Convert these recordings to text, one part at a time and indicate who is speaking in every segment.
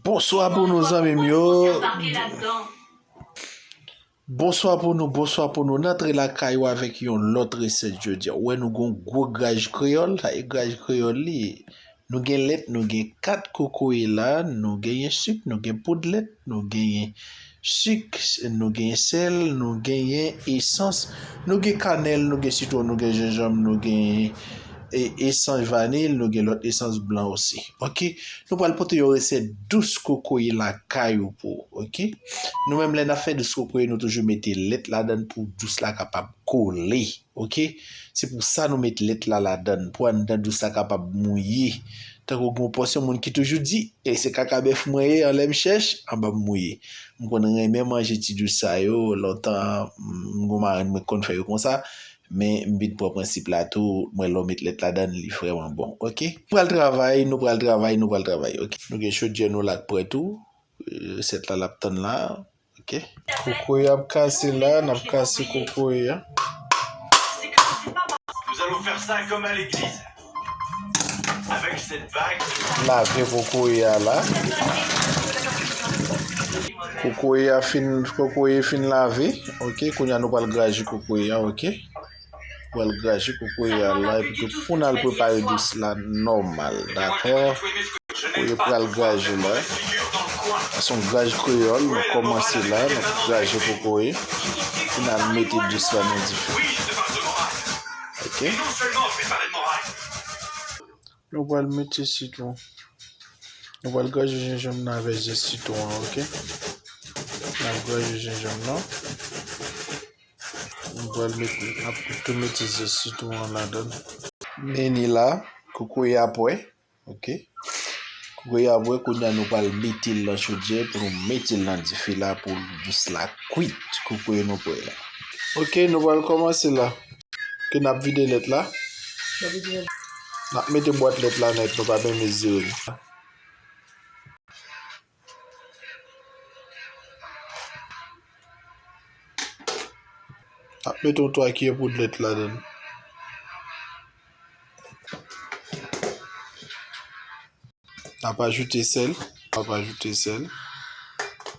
Speaker 1: Bonswa pou nou zanmim yo. Bonswa pou nou bonswa pou nou nan tre lakay ou avèk yon lòt resèt jodi a ou wè nou gon gwo graj kreyòl sa e graj kreyòl li ye nou gen lèt nou gen kat kokoye la nou genyen sik nou gen poud lèt nou genyen Sik, nou gen sèl, nou genyen esans, nou gen kanèl, nou gen sitwon, nou gen jenjanm, nou gen esans vanil, nou gen lòt esans blan osi. Ok. Nou pral pote yon resèt dous kokoye lakay ou pou ou. Ok. Nou menm lè n ap fè dous kokoye nou toujou mete lèt ladan l pou dous la kapab kole. Ok se pou sa nou met lèt la ladann pou anndan dous la kapab mouye tankou gen yon pòsyon moun ki toujou di e se kaka bèf mwen ye an lè m chèch anba m mouye m konn renmen manje ti dous sa yo lontan m gon marenn mwen ki konn fè yo konsa men m vin pran prensip la tou m wè lè w met lèt ladann li vrèman bon ok m pral travay nou pral travay nou pral travay ok. Nou gen chodyè nou la k prè tou resèt la l ap tann la. Ok. Kokoye ap kase la, n ap kase kokoye
Speaker 2: a. Lave
Speaker 1: kokoye a la. Kokoye a fin, kokoye fin lave. Ok, kounye a nou pral graje kokoye a, ok. pou al graje kokoye a la epi tou pou n al prepare dous la nòmal dakò kokoye pral graje la se yon graj kreyòl nou kòmanse la n ap graje kokoye pou n al mete dous la nan dife ok nou pral mete sitwon nou pral graje jenjanm nan avè zè sitwon an ok n ap graje jenjanm nan Mwen pral met ap kout tomate zè sitron an ladan. Meni la, kokoye a pwè. Ok. Kokoye a pwè, kounye a nou pral mete l nan chodyè pou nou mete l nan dife la pou jis la kwit. Kokoye nou pwè la. Ok, nou pral kòmanse la. Ke nap vide lèt la. Nap mete bwat lèt la nèt, nou pa byen mezire l. Ap met yon 3 kiyè poud lèt ladann. Nap ajoute sèl, nap ajoute sèl.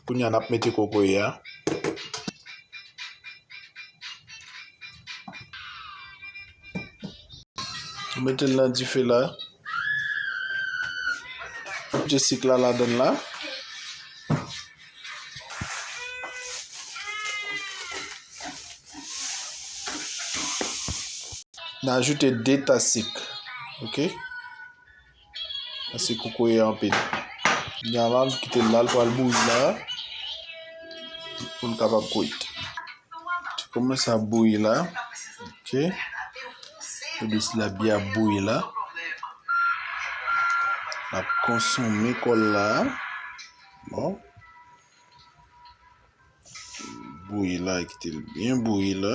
Speaker 1: Kounya nap mete kokoye a. Ou mete l nan dife la. Ou mete sik la ladan la. N ajoute 2 tas sik. Ok. Mesi kokoye anpil. Nya la nou kite lal pral bouyi la. Poun kapab koyit. Ti kouman sa bouyi la. Ok. Pou dis la biya bouyi la. La konson mi kol la. Bon. Bouyi la kite l byen bouyi la.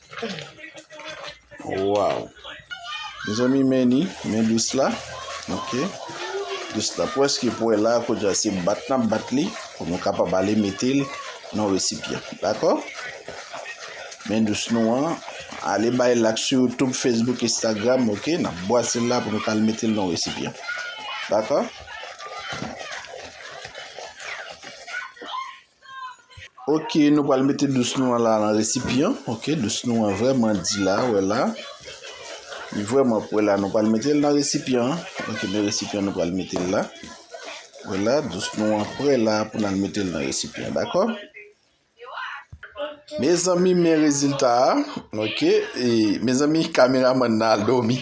Speaker 1: Waw Mezanmi men li men lous la ok lous la pwèske pwè la kounye a se bat nap bat li pou nou kapab ale metel nan resipyan dakò men lous nou an ale bay lak sou youtube facebook instagram ok nap bwasel la pou nou kal metel nan resipyan dakò. Ok nou pral mete dous nou an la nan resipyan ok dous nou an vreman di la wè la li vreman pou wè la nou pral metel nan resipyan ok nan resipyan nou pral metel la wè la dous nou an pre la pou nan metel nan resipyan dakò mezanmi men rezilta a ok mezanmi kameraman nan al domi.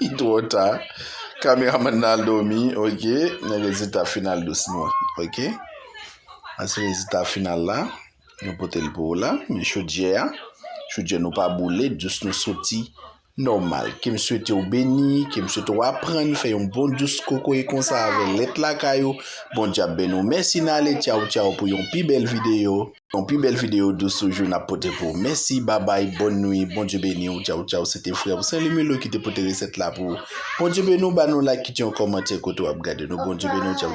Speaker 1: Li tro ta. Kameraman nan al domi ok. Men rezilta final dousman an ok. Sa se rezilta final la. Mwen pote l pou ou la. Men chodyè a. Chodyè nou pa boule. Dous nou soti nòmal. Ke m swete ou beni. Ke m swete ou aprann fè yon bon dous kokoye konsa avè lèt lakay ou. Bondye ap beni ou. Mèsi n ale. Tchaw tchaw pou yon pi bèl videyo. Yon pi bèl video dous toujou nap pote pou ou mèsi babay bòn nwi bondye beni ou tchaw tchaw se te frè ou Sainly Melo ki te pote resèt la pou ou bondye beni ou ba nou like kite yon kòmantè kote wap gade nou bondye beni ou tchaw.